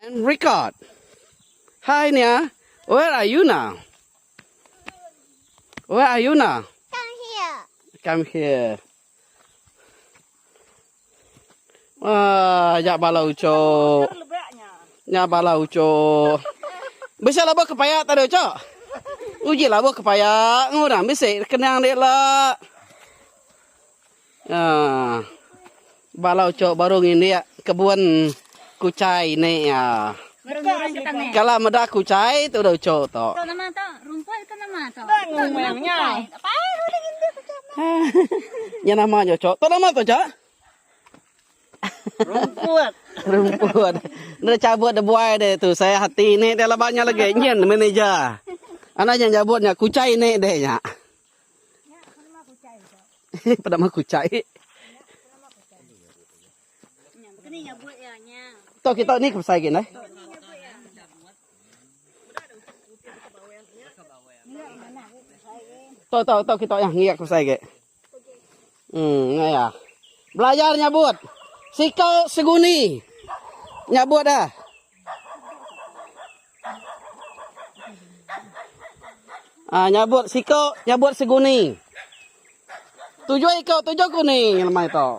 And record. Hi Nia, where are you now? Where are you now? Come here. Come here. Wah, ya bala uco. Ya bala uco. Bisa labuh kepaya tak ada uco. Uji labuh kepaya ngurang bisa kenang dia lah. Aaa. Bala uco baru ngindik kebun kuchai ni aaa. Kala meda kuchai tu udah uco tu. Tu nama tu? Rumput ke nama tu? Tu nama kuchai. Tak payah lah udah ngindik kuchai tu. Aaa. Nya nama nya uco. Tu nama tu uco? Rumput. Rumput. Enda cabut da buai deh tu sayang hati ni deh laban nya legi nyin manager. Anak nya nyabut nya kuchai ni deh nya. Penama kuchai. Tok kita ni ke besai gin ai. Tok tok tok kita yang ngiak ke besai gin. Emm nya iya. Belajar nyabut. Siko seguni nyabut da. Ah nyabut siko nyabut seguni. Tujuh iko tujuh guni lemai to.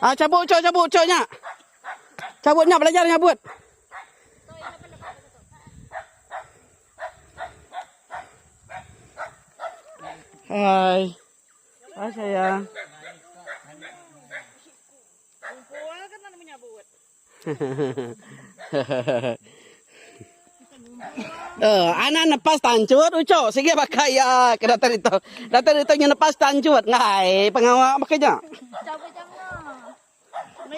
Ah cabut ucho cabut ucho nya. Cabut nya belajar nyabut. Hai. Hai sayang. Kumpul kan nak menyabut. Eh, anak nepas tancut ucok sigi baka iya ke datai ditu. Datai ditu nya nepas tancut. Ngai, pengawa baka nya. Cabut jangka.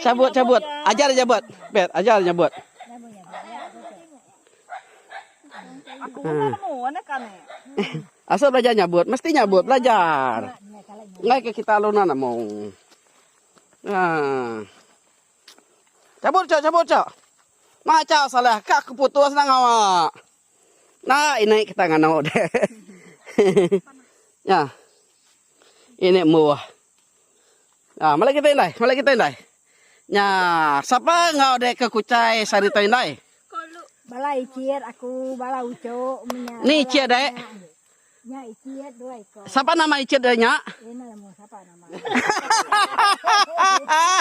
Cabut cabut. Ajar dia nyabut. Bet, ajar dia nyabut. Asal belajar nyabut, mesti nyabut belajar. Enggai ke kita alu nan amung. Ha. Cabut cak, cabut cak. Mak cak salah ka aku putus nang awak. Nah, ini kita nganu deh. Nya. Ini mbuh. Haa melai kitai indai melai kitai indai. Nya sapa enggau deh ke kuchai sehari tau indai. Bala ichit aku bala uchok menya. Ni ichit deh. Nya ichit dua iko. Sapa nama ichit deh nya. Ina lemu sapa nama. Hahaha.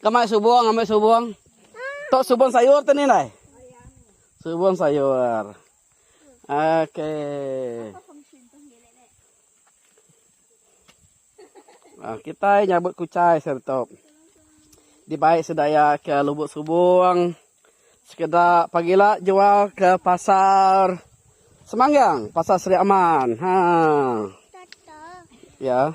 Kemai subung ambil subung. Tok subung sayur tu ni nai. Subung sayur. Okey. Ah kita nyabut kucai serta di baik sedaya ke lubuk subung sekeda pagila jual ke pasar Semanggang, pasar Sri Aman. Ha. Ya.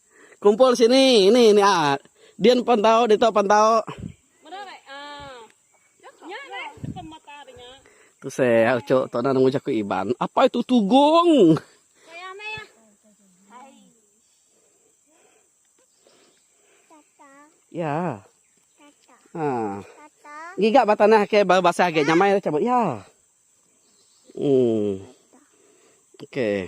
Kumpul sini ini ini aa. Din pan tau ditu pan tau. Meda rek aa. Nya rek depan mata de nya. Tu se ya uchu tu na nemu jaku Iban. Apai tu tugong. Payah meh ya. Hai. Tata. Ya. Tata. Ha. Tata. Giga ba tanah ke ba basah agi nyamai dah cabut ya. Hmm. Okey.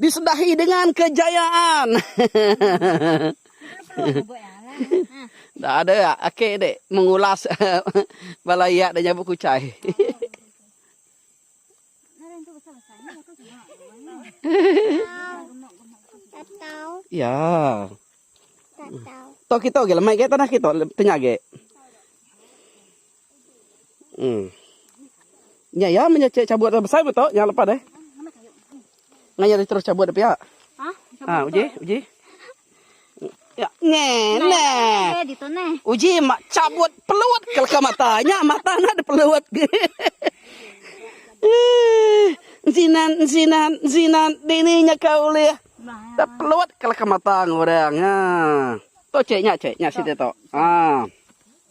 disedahi dengan kejayaan. Enda ada ake di mengulas bala iya da nyabut kuchai. Iya. Tau kita agi lama agi tanah kita tanya agi. Nya iya meh nya cabut nya besai meh tu nya lepa deh. Ngah iya terus cabut deh pia. Ha uji uji. Nya neh. Uji meh cabut pelut ke leka mata. Nya mata nya deh pelut. Eii Ensinan ensinan ensinan dini nya ka ulih deh pelut ke leka mata orang. Ha. Tu cheh nya cheh nya siti tu. Ha.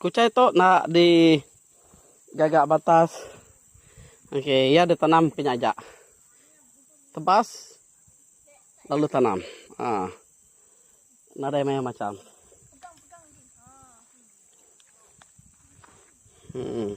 Kuchai tu enda di gaga batas ok iya di tanam ke nya aja tebas lalu tanam aaa nadai mayuh macham emm.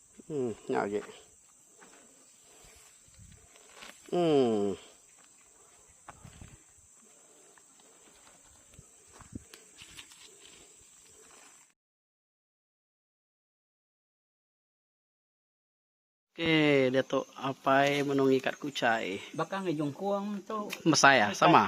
Uhh nya agi. Uhh. Oke diatu apai menongi kat kuchai. Baka ngi jungkung tu. Mesai ah sama.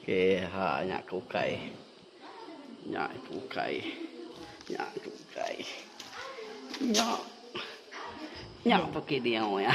Okey ha nya ke ukai. Nya ke ukai. Nya ke ukai. Nya. Nya pekit dia ya.